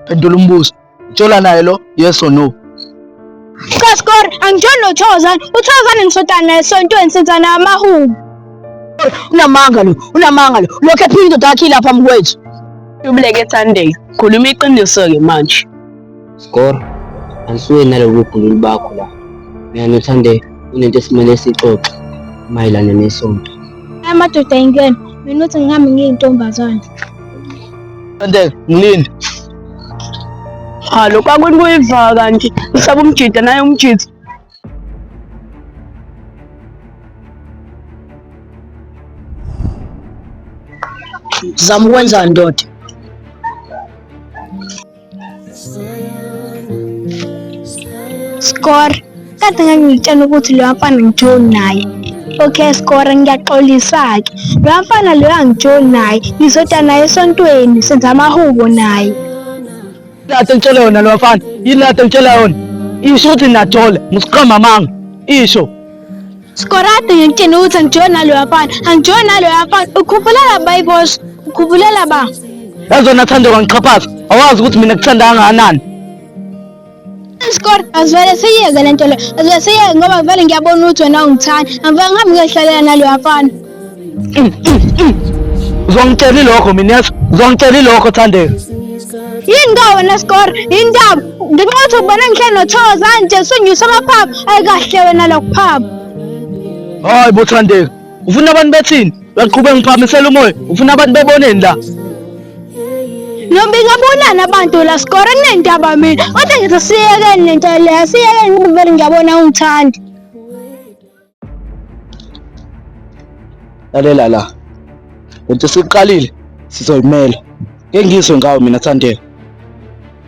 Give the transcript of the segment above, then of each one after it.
phendula umbuzo utshola naye lo yes or no Kaskor angijoli noThozan uThozan ngisotana naye esontweni senza naye amahubo unamanga lo unamanga lo lokho ephinda indoda yakhe ilapha mkwethu ubuleke ethandeka khuluma iqiniso-ke manje Score, angisuke nalobu bhululu bakho la. Mina noThande kunento esimele sixoxe mayelana nesonto. Aya madoda yingena, mina uthi ngihambe ngiyintombazane. Thande, ngilinde. Cha, lokhu akwini kuyivaka kanti usaba umjida naye umjida. Zama ukwenzani ndoda? Score. Kade ngangitshela ukuthi lo mfana ngijoli naye. Okay score ngiyaxolisa-ke. Lo mfana lo angijoli naye. Ngizoda naye esontweni senza amahubo naye. Lata ngitshela yona lo mfana. Yini lata ngitshela yona? Isho ukuthi nathola. Musiqamba amanga. Isho. Skorate ngikutshena ukuthi angijoyi naloyo afana angijoyi naloyo afana ukhuphula la bayibosha ukhuphula la ba yazona thando kangixhaphaza awazi ukuthi mina kuthanda kangakanani isikole azivele siyiyeke le nto le azivele siyiyeke ngoba vele ngiyabona ukuthi wena ungithanda angivele ngihambe ngiyohlalela naloyo afana uzongitshela ilokho mina yazi uzongitshela ilokho thandeka yini ka wena sikore yindaba ngenxa yokuthi ubona ngihle nothoza nje sunyusa amaphaphu ayikahle wena lokuphapha hayi bo thandeka ufuna abantu bethini uyaqhuba ngiphamisela umoya ufuna abantu beboneni la nobingabonani abantu la sikore kunendaba mina kodwa ngithi siyekeni lento leyo siyekeni ukuvele ngiyabona ungithanda lalela la lento siqalile sizoyimela ke ngizwe ngawo mina Thandeka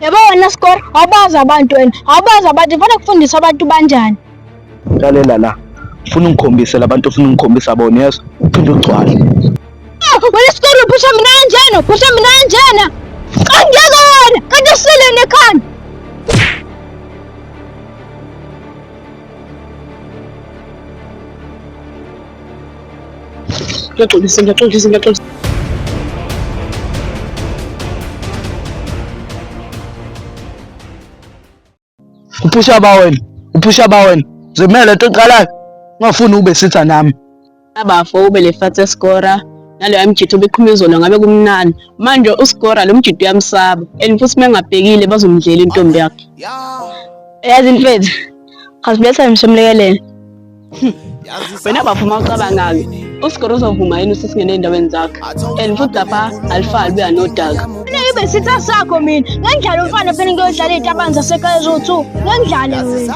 yabo wena score awubazi abantu wena awubazi abantu ngifuna kufundisa abantu banjani lalela la ufuna ungikhombise labantu ufuna ungikhombisa bona yeso uphinde ugcwale ah, wena score uphusha mina kanjena uphusha mina kanjena angeke wena kanti usile nekhanda Ngiyaxolisa, ngiyaxolisa, ngiyaxolisa. Uphusha ba wena, uphusha ba wena. Zimele into eqalayo. Ungafuni ube sitha nami. Abafo ube le fat escora naloya mjitha obeqhuma izolo ngabe kumnani manje uscora lo mjitha uyamsaba and futhi mengabhekile bazomdlela intombi yakhe yazi mfethu khasibetha msomlekelele wena bavuma ucabangake usigoro uzovuma yini usesingene endaweni zakhe and futhi lapha alifali buya nodaka mina ibe sitha sakho mina ngengidlala umfana phela ngiyodlala iy'tabani zasekhaya eziwu-two ngengidlale mina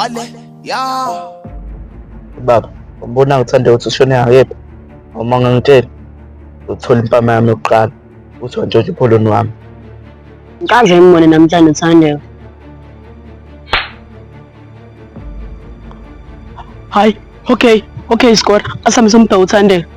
Ale, ya. Baba, umbona ngithanda ukuthi ushone ngakephi? Uma ngangitshela, uthola impama yami yokuqala. Uthi wantshontsha ipholoni wami. Ngikaze ngimone namhlanje Thandeka. Hayi, okay, okay Skora. Asihambise umbheka uThandeka.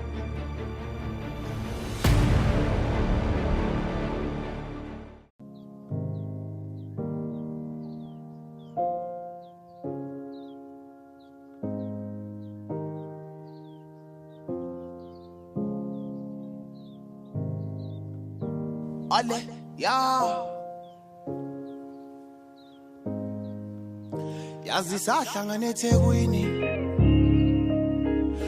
Olha, yeah. yazi sahlangana ethekwini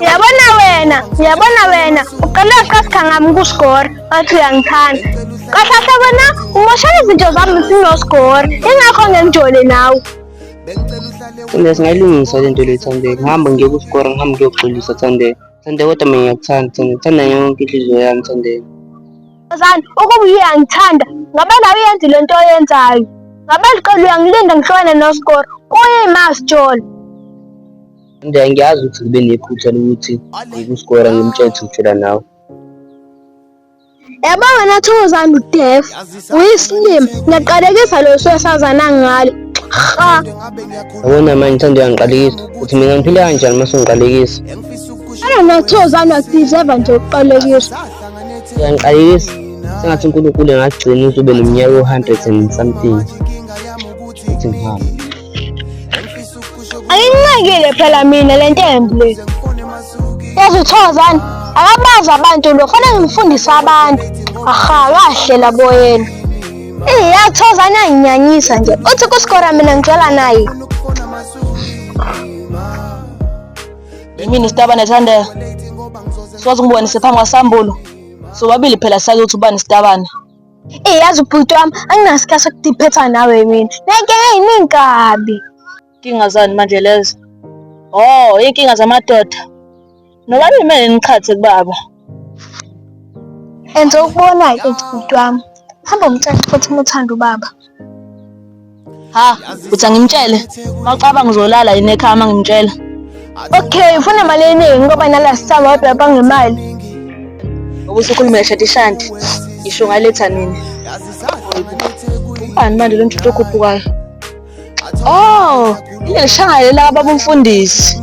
Uyabona wena, uyabona wena, uqale waqasika ngami kuScore, wathi uyangithanda. Kahlahla wena umoshela izinto zami sinoScore, ingakho ngengijole nawe. Thanda singayilungisa le nto le Thande, ngihamba ngiye kuScore, ngihamba ngiyoxolisa Thande. Thande kodwa mina ngiyakuthanda Thande, ngithanda yonke inhliziyo yami Thande. Zani, ukuba uyangithanda, ngabe nawe uyenza le nto oyenzayo. Ngabe liqela uyangilinda ngihlukane noScore, kuyima sijolo. Nje ngiyazi ukuthi ngibe nephutha lokuthi ngikuskora ngimtshele ukujula nawe. Yabo wena Thokozani uDef uyisilima ngiyaqalekisa lo sosazana ngalo. Ha. Yabona manje ngithanda uyangiqalekisa ukuthi mina ngiphile kanjani uma sengiqalekisa. Ana noThokozani wadeserve nje ukuqalekiswa. Uyangiqalekisa sengathi uNkulunkulu engagcina uzobe nomnyaka o-100 and something. Uthi ngihambe. Ayinqekile phela mina le ntembi le. Yazi uthozani akabazi abantu lo fanele ngimfundise abantu. Aha kahle labo yena. Eh yathozani anginyanyisa nje. Uthi kuskora mina ngidlala naye. Yimini sitaba nethandela. Siwazi ngibonise phambi kwasambulo. Sobabili phela sazi ukuthi ubani sitabana. Eyi yazi ubhuti wami anginasikhathi sokudiphetha nawe mina. Ngeke hey ningabi. Inkinga zani manje lezo? Oh, inkinga zamadoda. Noba nimele niqhathe kubaba. Enze ukubona-ke ubhuti wami. Hamba umtshele futhi uma uthanda ubaba. ha uthi angimtshele mawucabanga uzolala yini ekhaya uma ngimtshela okay ufuna imali eningi ngoba nala sithamba kodwa bangemali ubusukhulumela shadi shanti ngisho ngaletha nini ubani manje lo mthuthi okhuphukayo oh ileli shangayela ababumfundisi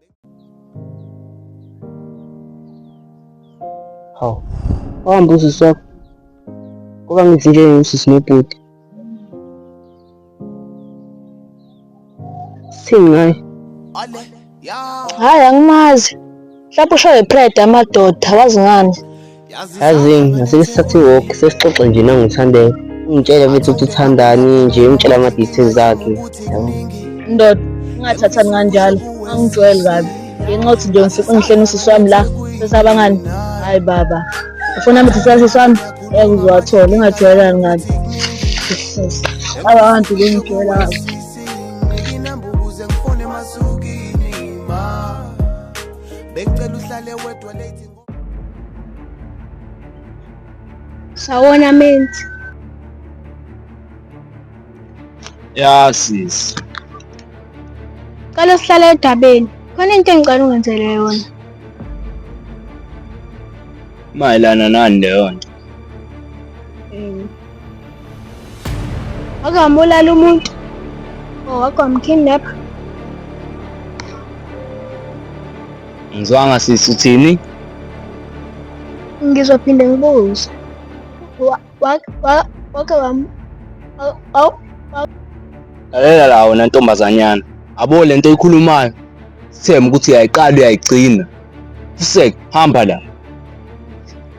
Hawu, wahamba usisi wakho. Ngoba ngithi nje usisi nobhuti. Singayi. Hhayi angimazi. Mhlawumbe ushaye pride amadoda, wazi ngani? yazi ngasike sithathe iwalk sesixoxe nje nangithandeka ungitshele futhi ukuthi uthandani nje ungitshela ama-details akhe ndoda ungathathani kanjalo angijwayeli kabi ngenxa yokuthi nje ngifika ungihleni usisi wami la sesabangani hayi baba ufuna mithi sasisi wami ngeke uziwathole ungajwayelani ngabi abantu bengijwayela kabi bengicela uhlale wedwa late Sawona menzi. Ya sisi. Cela sihlale edabeni. Khona into engicela ungenzele yona. Mayelana nani leyo nto? wake wambulala umuntu or oh, wake wamkidnapha ngizwanga sisi uthini ngizophinde ngibuze wake wam lalela la wena ntombazanyana abo le nto ikhulumayo sithembe ukuthi uyayiqala uyayigcina fusek hamba la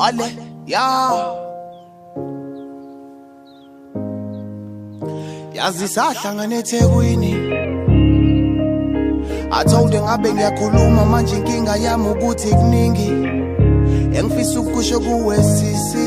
Ale, yeah. yazi sahlangana ethekwini athonde ngabe ngiyakhuluma manje inkinga yami ukuthi kuningi engifisa ukusho kuwe sisi